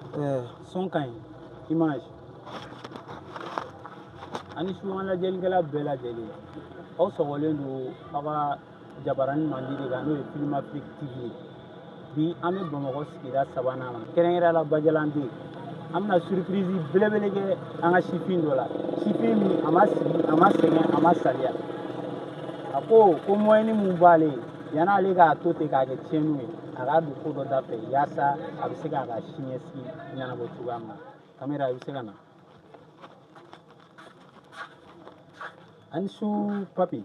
Eh, son ka ɲi image ani su an lajɛlikɛla bɛɛ lajɛlen aw sɔgɔlen don aw ka jabaranin mandi de kan n'o ye film afrique tv ye bi an bɛ bamakɔ sigida sabanan na kɛrɛnkɛrɛnya la bajalan deux an bɛna surprise belebele kɛ an ka sifin dɔ la sifin min a ma sigi a ma sɛgɛn a ma saliya a ko ko moyen mun b'ale ye Yani ale k'a to ten k'a kɛ tiɲɛniw ye a k'a don ko dɔ da fɛ yaasa a bɛ se k'a ka siniɲɛsigi ɲɛnabɔ cogoya min na kamera i bɛ se ka na ani su papi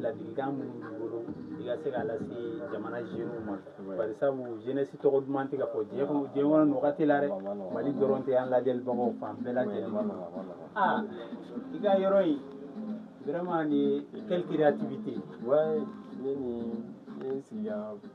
ladilikan minnu b'i bolo i ka se k'a lase jamana jeunes ma bari sabu jeunesse tɔgɔ duman tɛ ka fɔ diɲɛ kɔnɔ nin wagati la dɛ mali dɔrɔn tɛ an lajɛlibagaw fan bɛɛ lajɛlen aa i ka yɔrɔ in vraiment nin ye quelle créativité ne ni ne sigira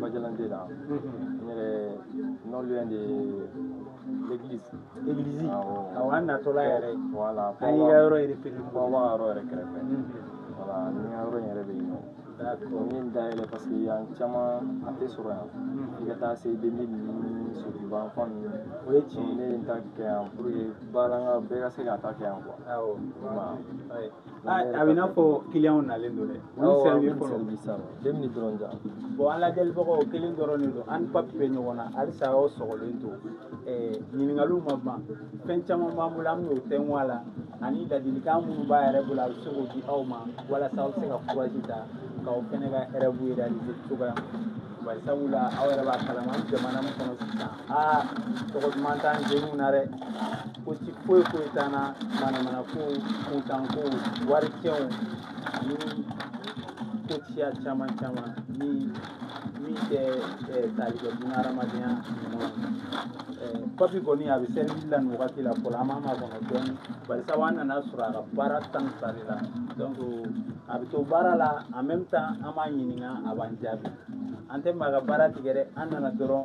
bajalan deux la n yɛrɛ non loin de l'église église awɔ an natɔla yɛrɛ voilà an y'i ka yɔrɔ repéré fɔ an b'a yɔrɔ yɛrɛ kɛrɛfɛ voilà ni ka yɔrɔ in yɛrɛ bɛ yen nɔ n ye nin dayɛlɛ parce que yan caman a tɛ sɔrɔ yan i ka taa se deux mille ninnu sotuba fan ninnu o ye tiɲɛ ye ne ye n ta kɛ yan pour que baara n ka bɛɛ ka se k'a ta kɛ yan quoi awɔ a bɛ i n'a fɔ kiliyanw nalen don dɛ olu servi fɔlɔ deux minutes dɔrɔn ja bon an lajɛlibagaw kelen dɔrɔn de don an ni papi bɛ ɲɔgɔn na halisa aw sɔgɔlen to ɲininkaliw ma ban fɛn caman b'an bolo an bɛn'o tɛngun a la ani ladilikan minnu b'a yɛrɛ bolo a bɛ se k'o di aw ma walasa aw bɛ se ka kurazi ta k'aw fɛnɛ ka rêve réaliser cogoya min bari sabula aw yɛrɛ b'a kalama jamana min kɔnɔ sisan aa tɔgɔ duman t'an jeunes na dɛ ko ci foyi foyi t'an na manamana kow kuntan kow wari cɛnw ani ko ciya caman caman ni min tɛ tali kɛ bunahadamadenya ɲuman papi kɔni a bɛ service la nin wagati la fɔlɔ an b'a makɔnɔ dɔɔni bari sabu an nana sɔrɔ a ka baara tan ni fila de la donc a bɛ to baara la en même temps an b'a ɲininka a b'an jaabi an tɛ maa ka baara tigɛ dɛ an nana dɔrɔn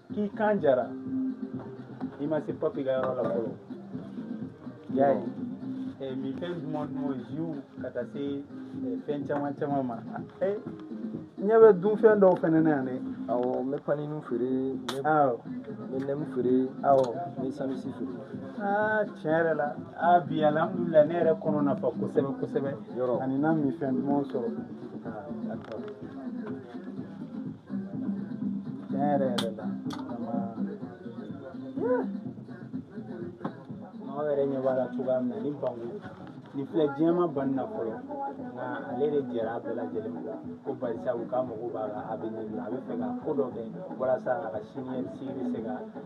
k'i kan jara i ma se papi ka yɔrɔ la fɔlɔ i y'a ye eh, minfɛn duman duman ziw ka taa se eh, fɛn caman caman ma eh, ɲɛ bɛ dunfɛn dɔw fɛnɛ na yan dɛ awɔ n bɛ panini feere n bɛ awɔ n bɛ nɛmu feere awɔ n bɛ sandwich feere aa tiɲɛ yɛrɛ la a bi alihamudulilayi ne yɛrɛ kɔnɔ nafa kosɛbɛ kosɛbɛ yɔrɔ ani na minfɛn dumanw sɔrɔ aa d'accord tiɲɛ yɛrɛ yɛrɛ la maaw yɛrɛ ɲɛ b'a la cogoya min na ni bangu nin filɛ diɲɛ ma ban na fɔlɔ nka ale de jɛra a bɛɛ lajɛlen ma ko barisa u ka mago b'a ka avenir la a bɛ fɛ ka ko dɔ kɛ walasa a ka siniɲɛsigi bɛ se ka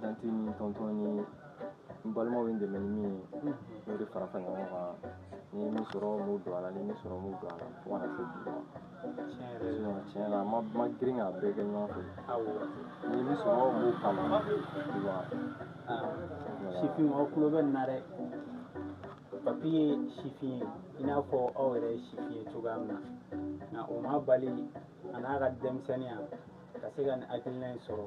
tanti ni tɔntɔn ni n balimaw ye n dɛmɛ ni min ye n'o de fara fara ɲɔgɔn kan ni ye min sɔrɔ n b'o don a la ni min sɔrɔ n b'o don a la fo ka na se bi ma sinon tiɲɛ la n ma ma girin k'a bɛɛ kɛ ɲɔgɔn fɛ ni ye min sɔrɔ n b'o k'a la tu vois sifin aw tulo bɛ nin na dɛ papi ye sifin ye i n'a fɔ aw yɛrɛ ye sifin ye cogoya min na nka o m'a bali a n'a ka denmisɛnninya ka se ka nin hakilina in sɔrɔ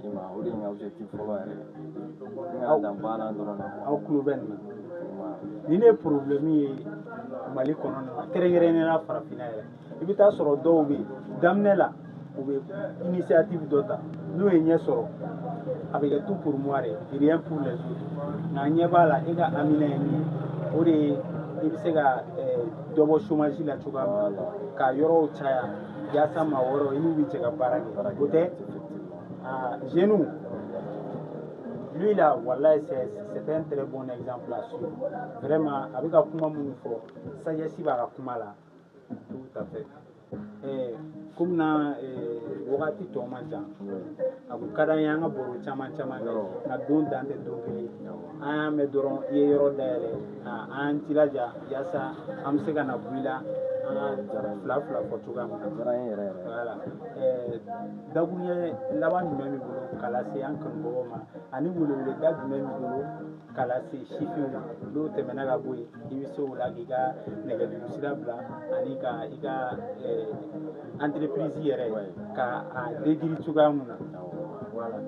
di ma o de ye n ka objectif fɔlɔ yɛrɛ ye n ka dan baara dɔrɔn na aw tulo bɛ nin na nin de ye problème ye mali kɔnɔna kɛrɛnkɛrɛnnenya la farafinna yɛrɛ i bɛ taa sɔrɔ dɔw bɛ yen daminɛ la u bɛ initiative dɔ ta n'o ye ɲɛ sɔrɔ a bɛ kɛ tout pour moi de ye rien pour les autres nka ɲɛ b'a la e ka hamina ye min ye o de ye i bɛ se ka dɔ bɔ chômage la cogoya min na ka yɔrɔw caya yaasa maa wɛrɛw i n'u bɛ jɛ ka baara kɛ o tɛ Ah, jeune, lui là, voilà, c'est un très bon exemple à suivre. Vraiment, a bɛ ka kuma minnu fɔ, sagesse b'a ka kuma la, tout à fait. Eh, comme na eh, wagati tɔ man ca a kun ka d'an ye an ka baro caman caman kɛ nka don dan tɛ don kelen an y'a mɛn dɔrɔn i ye yɔrɔ dayɛlɛ ka an jilaja yaasa an bɛ se ka na bɔ i la an ka fila fila fɔ cogoya min na diyara n ye yɛrɛ yɛrɛ voilà dakuruɲɛ laban jumɛn b'i bolo k'a lase an kanubagaw ma ani weleweleda jumɛn b'i bolo k'a lase sifinw ma n'o tɛmɛna ka bɔ yen i bɛ se o la k'i ka nɛgɛjuru sira bila ani ka i ka entreprise yɛrɛ ka a décrit cogoya min na voilà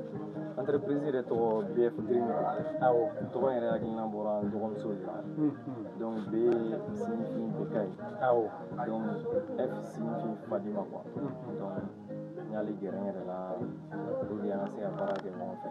entreprise yɛrɛ tɔgɔ BF Green awɔ tɔgɔ in yɛrɛ hakilina bɔra n dɔgɔmuso de la donc B signifie Bekayi awɔ donc F signifie Fadima quoi donc n y'ale gɛrɛ n yɛrɛ la pour que an ka se ka baara kɛ ɲɔgɔn fɛ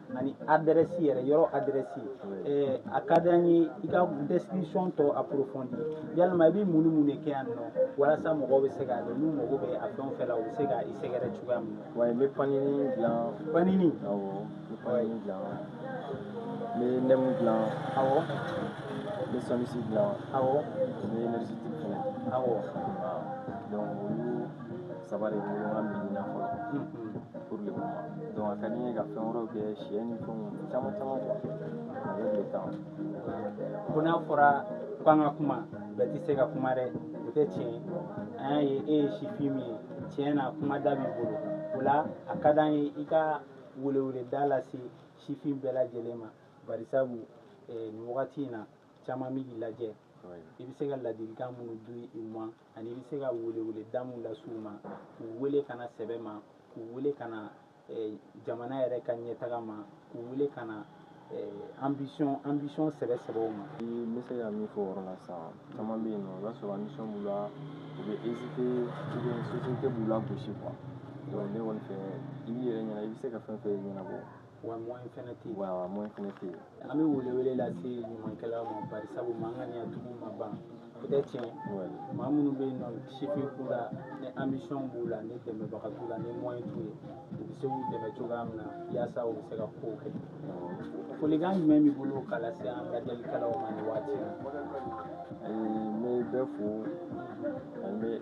ani adresse yɛrɛ yɔrɔ adresse ɛɛ a ka di an ye i ka description tɔ approfondi yalima i bɛ mun ni mun de kɛ yan nɔ walasa mɔgɔw bɛ se k'a dɔn n'u mago bɛ a fɛn o fɛn la u bɛ se ka i sɛgɛrɛ cogoya min na. wa n bɛ panini dilan. panini. awɔ n bɛ panini dilan n bɛ nɛmu dilan. awɔ. n bɛ sanwisi dilan. awɔ. n bɛ nɛrisiti fana. awɔ. donc olu. saba de bɛ ɲɔgɔn min na fɔlɔ pour le moment donc a ka di n ye ka fɛn wɛrɛw kɛ sɛ ni fɛnw caman caman quoi avec le temps ko n'a fɔra k'an ka kuma bɛɛ tɛ se ka kuma dɛ o tɛ tiɲɛ ye an y'a ye e ye sifin min ye tiɲɛ na kuma da b'i bolo o la a ka d'an ye i ka weleweleda lase sifin bɛɛ lajɛlen ma barisabu eh, nin wagati in na caman bɛ k'i lajɛ i bɛ se ka ladilikan minnu di u ma ani i bɛ se ka weleweleda minnu lase u ma k'u wele ka na sɛbɛ ma k'u wele ka na eh, jamana yɛrɛ ka ɲɛtaga ma k'u wele ka na eh, ambition ambition sɛbɛ sɛbɛw ma. n bɛ se ka min fɔ o yɔrɔ la sisan caman bɛ yen nɔ i b'a sɔrɔ ambition b'u la u bɛ hésiter ou bien société b'u lagosi quoi donc ne kɔni fɛ i b'i yɛrɛ ɲɛna i bɛ se ka fɛn fɛn ɲɛnabɔ wa moyen fɛnɛ tɛ yen wa wa moyen fɛnɛ tɛ yen an bɛ welewele lase ɲumankɛlaw ma barisabu makaritigiw ma ban o tɛ tiɲɛ maa minnu bɛ yen nɔ sifin k'u la ni ambition b'u la ni dɛmɛbaga t'u la ni moyen t'u ye u bɛ se k'u dɛmɛ cogoya min na yaasa u bɛ se ka kow kɛ folikan jumɛn b'i bolo ka lase an lajɛlikɛlaw ma nin waati in na n bɛ bɛɛ fo ani